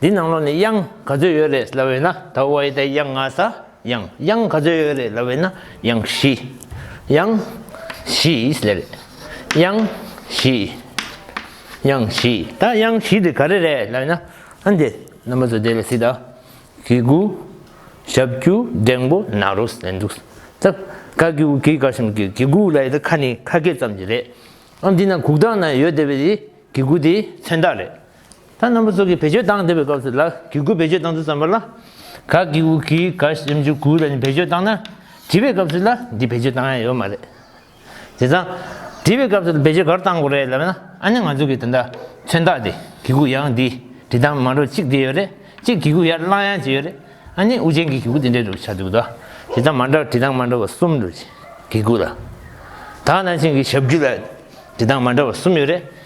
འདི་ནང་ལོགས་ནས་དབྱངས་ག་ཚོད་ཡོད་རེད་ལབ་ཡོད་ན་ད་བོ་བ་ཡི་དྭགས་དབྱངས་ང་ས་ཡང་དབྱངས་ག་ཚོད་ཡོད་རེད་ལབ་ཡོད་ན་དབྱངས་བཞི་དབྱངས་བཞི་ཡིས་ལེ་རེད་དབྱངས་བཞི་དབྱངས་བཞི་ད་དབྱངས་བཞི་དེ་ག་རེ་རེད་ལབ་ཡོད་ན་ཨ་འདི་རྣམ་པ་ཚོ་དེ་ལ་སི་ད་གི་གུ་ཞབས་ཀྱུ་འགྲེང་པོ་ན་རོ་ཟེར་འདུག་ད་ག་གི་གུ་གི་ག་ཞིམ་གི་གི་གུ་ལ་ཡི་ད་ཁ་ནི་ཁ་སྐད་ཙམ་གྱི་རེད་ཨ་འདི་ན་གུག་རྟགས་ན་ཡོད་དེ་བས་ཡི་གི་གུ་དེ་མཚོན་རྟགས་རེད། ཐ་ན་མི་ཚོགས་ཀྱིས་བེད་སྤྱོད་བཏང་བསྡད་པའི་སྐབས་སུ་ལ་གི་གུ་བེད་སྤྱོད་བཏང་ཚུལ་བརྩམས་པ་ལ། ག་གི་ཝུ་གི་ག་ཞེམ་ཅུ་གུ་ལ་ནི་བེད་སྤྱོད་བཏང་ན། དྲི་བའི་སྐབས་སུ་ལ་འདི་བེད་སྤྱོད་བཏང་ཡ་ཡོད་མ་རེད། དེ་དང། དྲི་བའི་སྐབས་སུ་བེད་སྤྱོད་ག་རུ་བཏང་དགོས་རེད་ལབ་ན་ཨ་ནི་ང་ཚོ་གི་དེ་འདྲ་མཚོན་རྟགས་དེ་གི་གུ་ཡང་འདི་དྲི་བཏང་མ་འགྲོ་གཅིག་དེ་ཡོད་རེད་གཅིག་གི་གུ་ཡར་བསླངས་ཡང་ཅི་ཡོད་རེད་ཨ་ནི་ཨུ་ཅན་གི་གི་གུ་དེ་འདྲའི་རུ་ཆགས་འདུག་ད་དྲི་བཏང་མ་འདྲ་དྲི་བཏང་མ་འདྲ་བ་གསུམ་འདུག་གི་གུ་ལ། ད་ན་ཆེན་གི་ཞབས་ཀྱུ་ལ་དྲི་བཏང་མ་འདྲ་བ་གསུམ་ཡོད་རེད།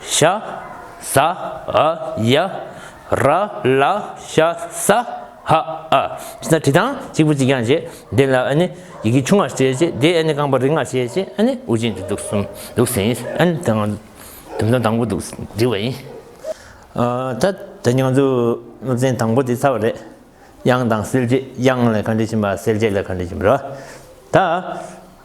ཤ་ཟ་ཨ་ཡ་ར་ལ་ཤ་ཟ་ཧ་ཨ་ཅེ་ན་བྲི་དང་གཅིག་པུ་གཅིག་རྐྱང་བྱེད་དེ་ལ་ཨ་ནི་ཡི་གེ་ཆུང་ངར་བྱེད་བྱེད་དེ་ཨ་ནི་རྐང་པ་རིང་ངར་བྱེད་བྱེད་ཨ་ནི་དབུགས་འབྱིན་གྱི་འདུག་གསུམ་འདུག་ཟིན་ཨ་ནི་དང་དུམ་ཚང་དང་པོ་འདུག་བྲི་བ་ཡིན། ད་ད་ཉང་ཚུ་སློབ་ཚན་དང་པོ་དེ་ཚར་བ་རེད། དབྱངས་དང་སེལ་བྱེད་དབྱངས་ལ་ག་འདྲི་བྱིན་པ་སེལ་བྱེད་ལ་ག་འདྲི་བྱིན་པ་རེད་བ། ད།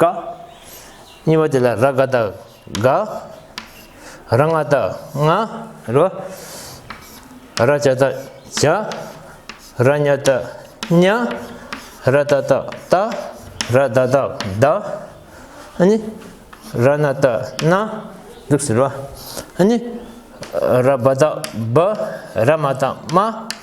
ཀ། གཉིས་པ་དེ་ལ་ར་ག་དང་ག། ར་ང་དང་ང། རེད་པ། ར་བྱ་དང་བྱ། ར་ཉ་དང་ཉ། ར་ད་དང་ད། ར་ད་དང་ད། ཨཱ་ནི། ར་ན་དང་ན། འདུག་ཟེར་བ། ཨཱ་ནི། ར་བ་དང་བ། ར་མ་དང་མ།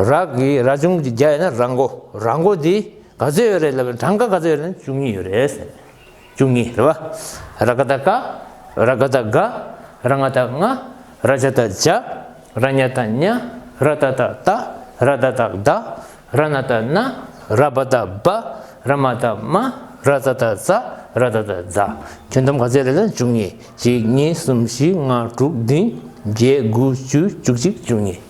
རག་གི་ར་ཅུང་ཅིག་རྒྱ་ཡོད་ན་ར་མགོ་ར་མགོ་དེ་ག་ཚོད་ཡོད་རེད་ལབ་པའི་གྲངས་ཀ་ག་ཚོད་ཡོད་རེད་བཅུ་གཉིས་ཡོད་རེད་ཟེར་ནས་བཅུ་གཉིས་རེད་བ། ར་ཀ་ད་ཀ་ར་ག་ད་ག་ར་ང་ད་ང་ར་ཇ་ད་ཇ་ར་ཉ་ད་ཉ་ར་ད་ད་ད་ར་ད་ད་ད་ར་ན་ད་ན་ར་བ་ད་བ་ར་མ་ད་མ་ར་ཛ་ད་ཛ་ར་ད་ད་ཛ་ཁྱོན་བསྡོམས་ག་ཚོད་ཡོད་རེད་ལབ་བཅུ་གཉིས་གཅིག་གཉིས་གསུམ་བཞི་ལྔ་དྲུག་བདུན་བརྒྱད་དགུ་བཅུ་བཅུ་གཅིག་བཅུ་གཉིས།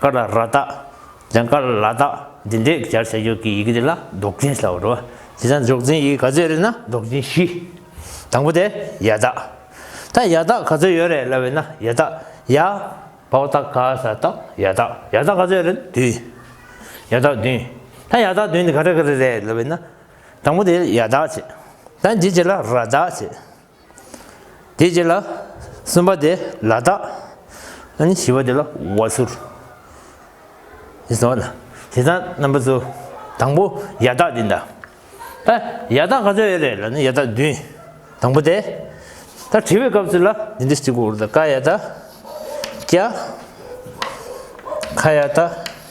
ཀ་ལ་ར་དག། ལན། ཀ་ལ་ལ་དག། འདི་འདྲའི་སྦྱར་བྱ་འཇོག་གི་ཡི་གེ་འདི་ལ་ཟློག་འཛིན་ཟེར་བ་རེད། དེ་ཚང་འཇོག་འཛིན་ཡི་གེ་ག་ཚོད་རེད་ན་ཟློག་འཛིན་བཞི། དང་པོ་དེ་ཡ་དག། ད་ཡ་དག་ག་ཚོད་ཡོད་རེད་ལབ་ཡོད་ན་ཡ་དག་ཡ། བ་བ་དག་ག་ས་དག་ཡ་དག་ཡ་དག་ག་ཚོད་རེད་བདུན། ཡ་དག་བདུན། ད་ཡ་དག་བདུན་འདི་ག་རེ་ག་རེ་རེད་ལབ་ཡོད་ན། དང་པོ་དེ་ཡ་དག་བྱེད། ད་འདི་དེ་ལ་ར་དག་བྱེད། དེའི་རྗེས་ལ་གསུམ་པ་དེ་ལ་དྭགས། ཨ་ནི་བཞི་བ་དེ་ལ་བྷ་ཤུར། ཞེས་གསུངས་པ་དང། དེ་དང་རྣམ་པ་གཙོ། དང་པོ་ཡ་དྭགས་དེ་འདྲ། ད་ཡ་དྭགས་ག་ཚོད་ཡོད་རེད་ལ་ནི་ཡ་དྭགས་བདུན། དང་པོ་དེ། ད་དྲི་བའི་སྐབས་སུ་ལ་འདི་འདྲ་ཞིག་གོ་རུ་དྭགས་ཀ་ཡ་དྭགས། ཀྱ། ཁ་ཡ་དྭགས།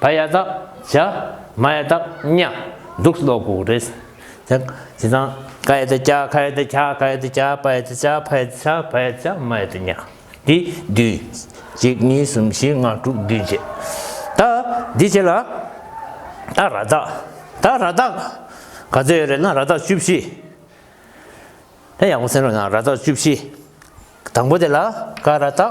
བ་ཡ་དག་བྱ། མ་ཡ་དག་གཉའ། གདུགས་སུ་ལོག་གོ་བུ་རེས། ད་ཇི་ལྟ། ཀ་ཡ་དག་ཀྱ། ཁ་ཡ་དག་ཁྱ། ཀ་ཡ་དག་ཀྱ། པ་ཡ་དག་བྱ། ཕ་ཡ་དག་ཁྱ། བ་ཡ་དག་བྱ། མ་ཡ་དག་གཉའ། འདི་བདུན། གཅིག་གཉིས་གསུམ་བཞི་ལྔ་དྲུག་བདུན་བྱས། ད་འདི་བྱས་ལ། ད་ར་དག། ད་ར་དག། ག་ཚོད་ཡོད་རེད་ན་ར་དག་བཅུ་བཞི། དེ་ཡག་པོ་སེམས་རོགས་གནང་ར་དག་བཅུ་བཞི། དང་པོ་དེ་ལ་ཀ་ར་དག།